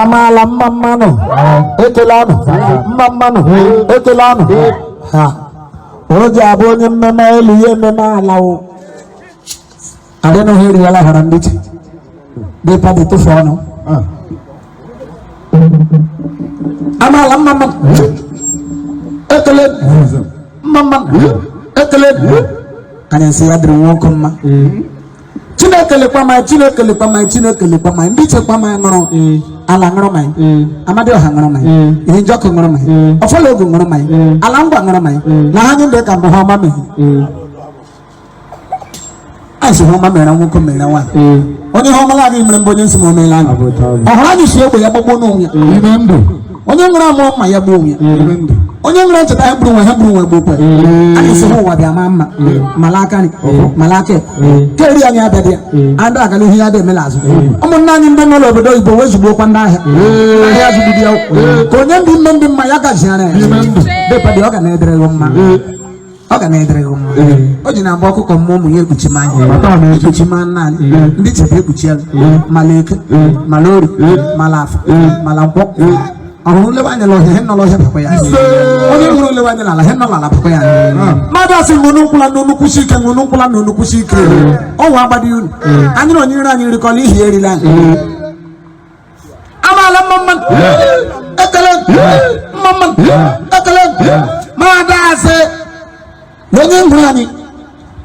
amaala mma mma nụ ekele nụ mma mma nụ ekele nụ ha o ji abụ onye mmema elu ya emema ala o adịnụghị eri ala hara ndị ichie depadi tụfu ọnụ amaala mma mma nụ ekele nụ mma mma nụ ekele nụ anyị sị ya dịrị nwoke mma chineke lekwa maị chineke lekwa maị chineke lekwa maị ndị ichie kwa maị ṅụrụ ala ṅụrụ maị amadiọha ṅụrụ maị ihe njọkụ ṅụrụ maị ọfọ la ogu ṅụrụ maị ala ngwa ṅụrụ maị na ha nye ndị ka mbụ he ọma mee a sị he ọma mere nwoke mere nwaanyị onye he ọma la adịghị mere mbụ onye nsị ma o meela anyị ọ hụrụ anyị sị egbe ya gbagbuo onwe ya ime ndụ onye nwere amụrụ mma ya gbuo onwe ya onye nwere ncheta ya gburu nwe ha gburu nwe gbokwe anyị sị he ụwa bịa maa mma mala aka nri mala aka ekpe. keri anyị abịa dị ya adị aga n'ihu ya dị emela azụ ụmụnna anyị ndị nọ n'obodo oyibo wee zugbokwa ndị ahịa ahịa zụgide ya ka onye ndị ime ndị mma ya gaziara ya depadi ọ ga na-adịrị ya mma ọ ga na-adịrị gị mma o ji na-abụ ọkụkọ mụọ ụmụ ya ekpuchima anyị ekpuchima nna anyị ndị chebe ekpuchi ya mala eke mala orie mala afọ mala nkwọ ọ hụrụ lewe anya n'ọhịa he nọ l'ọhịa bakwa ya onye hụrụ lewe anya n'ala he nọ l'ala bakwa ya mmadụ asị na unu nkwụla na unu kwụsie ike unu nkwụla na unu kwụsie ike ọnwa agbadi unu anyị na onye iro anyị erikọla ihe erila anyị amaala mma mma nụ ekele nụ mma mma nụ ekele nụ ma ada asị na onye hụrụ anyị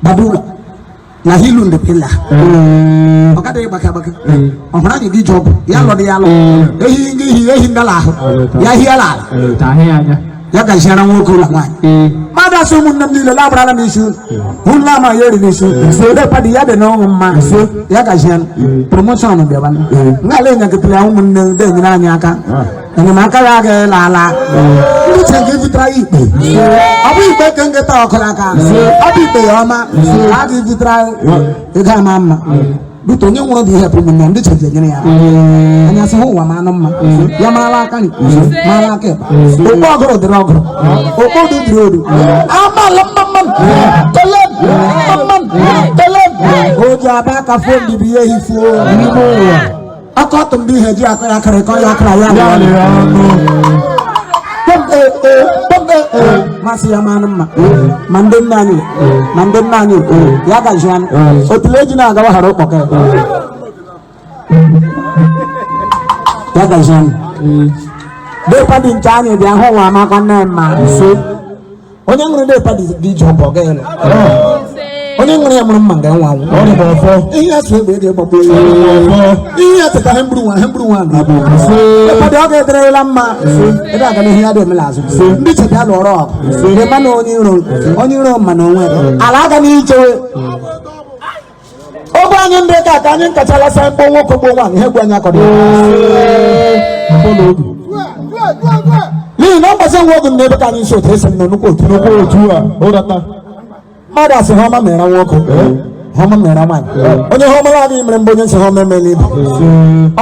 gbado ụlọ na hilu ndị pila ọ gadịghị gbaka gbaka ọ hụrụ anyị gị ji ọgwụ ya lọdị ya lọ ehi ngị ihi ehi ngala ahụ ya hie ala ala ya gaziara nwoke la nwaanyị mmadụ asị ụmụnne m niile labrala m isi ụlọ ama ya eriri isi depadi ya dị n'ọṅụ mma ya gazie promotion bịaba ngala enyekịtara ya ụmụnne ndị enyere anyị aka enyemaka ya agaghị la ala uche gị butara ya ikpe ọ bụ ikpe ka nketa ọkụla aka ọ bụ ikpe ya ọma a ga-ebutara ego ama mma bute onye hụrụ dị ihe bụ ụmụnne ndị chọrọ enyere ya anyị sị he ụwa manụ mma ya marala aka nri marala aka ịkpa okpo ọgụrụ dịrị ọgụrụ okpo odu dịrị odu amala mma mma nụ ekele nụ mma mma nụ ekele nụ o ji abụ aka fo mbibi ya ehifuo n'ime ụwa ọkọtụ ndị ihe ji akọ ya kịrịkọ ya akara ya ya rịa lere ọnụ Kpọmpe, ee, kpọmpe, ee. m asị ya manụ mma ma ndị nna anyị ma ndị nna anyị ya gazianụ otule eji na-agawa hara ụkpọka ya ya gazianụ depadi nke anyị bịa hụ nwa amakwa nne mma nso onye nwere ndị padi dị ije ọbụ ọga ịlụ onye nwere ya mụrụ mma nga nwa anwụ ihe atụ egbe eji gbagbu ihe atụ ka hemburu nwa hemburu nwa na abụ padi ọ ga-adịrịla mma ebe aga n'ihe ya dị omela azụ ndị chebi alụ ọrụ ọgụ ịma na onye iro onye iro ma na onwe ala aga n'ichewe ọgbọ anyị ndị ka ka anyị nkachala sa ọgbọ nwoke ọgbọ nwaanyị ihe ọgbọ anyị akọrọ n'ihi na mgbazi nwa oge n'ebe ka anyị nso otu esi nọ nnukwu otu nnukwu otu a ụrata mmadụ a sị ihe ọma mere nwoke ihe ọma mere nwaanyị onye ihe ọma la adịghị mere mgbe onye nsị ihe ọma emela ibe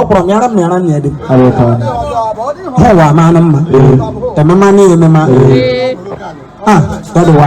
ọ kwụrụ m yara m yara nne dị ha ụwa amanụ mma emema na emema a dọdụwa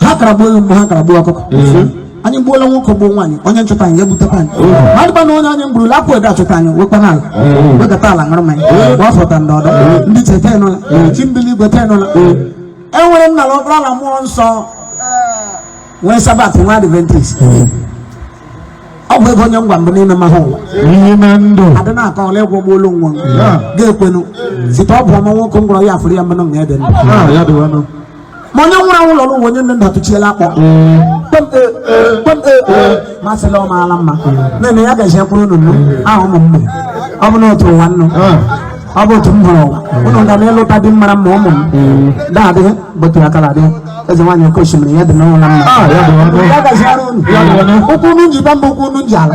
ha kara gbuo ewu mgbe ha kara gbuo ọkụkọ anyị gbuola nwoke gbuo nwaanyị onye nchọta anyị ga-ebutekwa anyị madịkwa na onye anyị mgburula akwụ ede achọta anyị wekwa n'ala wekọta ala ṅụrụ mmanya mgbe ọ fọta ndị ọdọ ndị cheta enụla chi mbi l'igwe tenụla e nwere nna na ọkpara la mmụọ nsọ nwee Sabat nwee Adventist ọ bụ ego onye ngwa mbụ n'ime mahụ ụwa n'ime ndụ adị na-akọ ọla ịgwọ gbuolu nwa ga-ekwenu site ọ bụ ọma nwoke ngwọrọ ya afụrụ ya mmanụ nga ede ndụ Ah, ya dịwanụ. ma onye nwụrụ anwụ lọrọ ụwa onye nne nna tụchiela akpọ masịla ọ maala mma nene ya gaziekwara unu nnu ahụ ụmụ mmụ ọ bụ na otu ụwa nnu ọ bụ otu m hụrụ ụwa unu ga na-alụta di mara mma ụmụ m daadị bụtụ ya kala dị eze nwaanyị oke osimiri ya dị nụ la mma ya gaziara unu ụkwụ unu ji bịa mba ụkwụ unu ji ala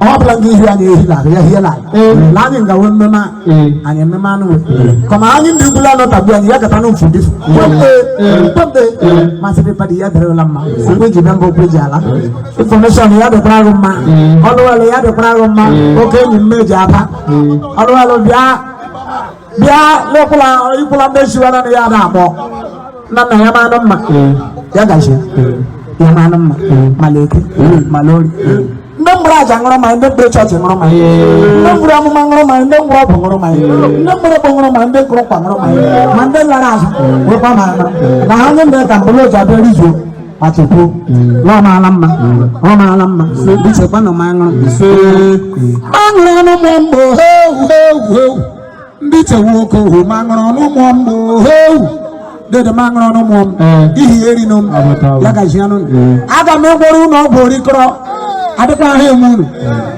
ọ bụla ndị ihu anyị ehi na-abịa hie na na anyị ngawe mmemme a anyị ememe anụ kọma anyị ndị ugwu anọ tagbu anyị ya gata n'ofu dị kpọmpe kpọmpe masị dị padị ya dịrị la mma ụkwụ ji bịa mba ụkwụ ji ala information ya dịkwara gị mma ọlụwalụ ya dịkwara gị mma oke enyi mmeji Aba ọlụwalụ bịa bịa lekwula ikwula ndị chiwara na ya na-akpọ nna nna ya manụ mma ya gazie ya manụ mma ma l'Eke ma l'Orie ndị mbụrụ aja ṅụrụ mmanya ndị mbụrụ chọọchị ṅụrụ mmanya ndị mbụrụ amụma ṅụrụ mmanya ndị mbụrụ ọgwụ ṅụrụ mmanya ndị mbụrụ ọgwụ ṅụrụ mmanya ndị kụrụ nkwa ṅụrụ mmanya ma ndị lara azụ wekwa ma na ha nye ndị ka mbụrụ ọjị bịa rizuo Achukwu na ọ maala mma ọ maala mma bichekwa na ma ṅụrụ aṅụrụ ọnụ mụọ mgbe ohewu hewu hewu ndị chewu oke ohu ma ṅụrụ ọnụ mụọ mgbe ohewu dede ma ṅụrụ ọnụ mụọ m ihi eri nụ m ya gazie nụ aga m agwọrọ unu ọgwụ orikọrọ adịkwa ahụ eme unu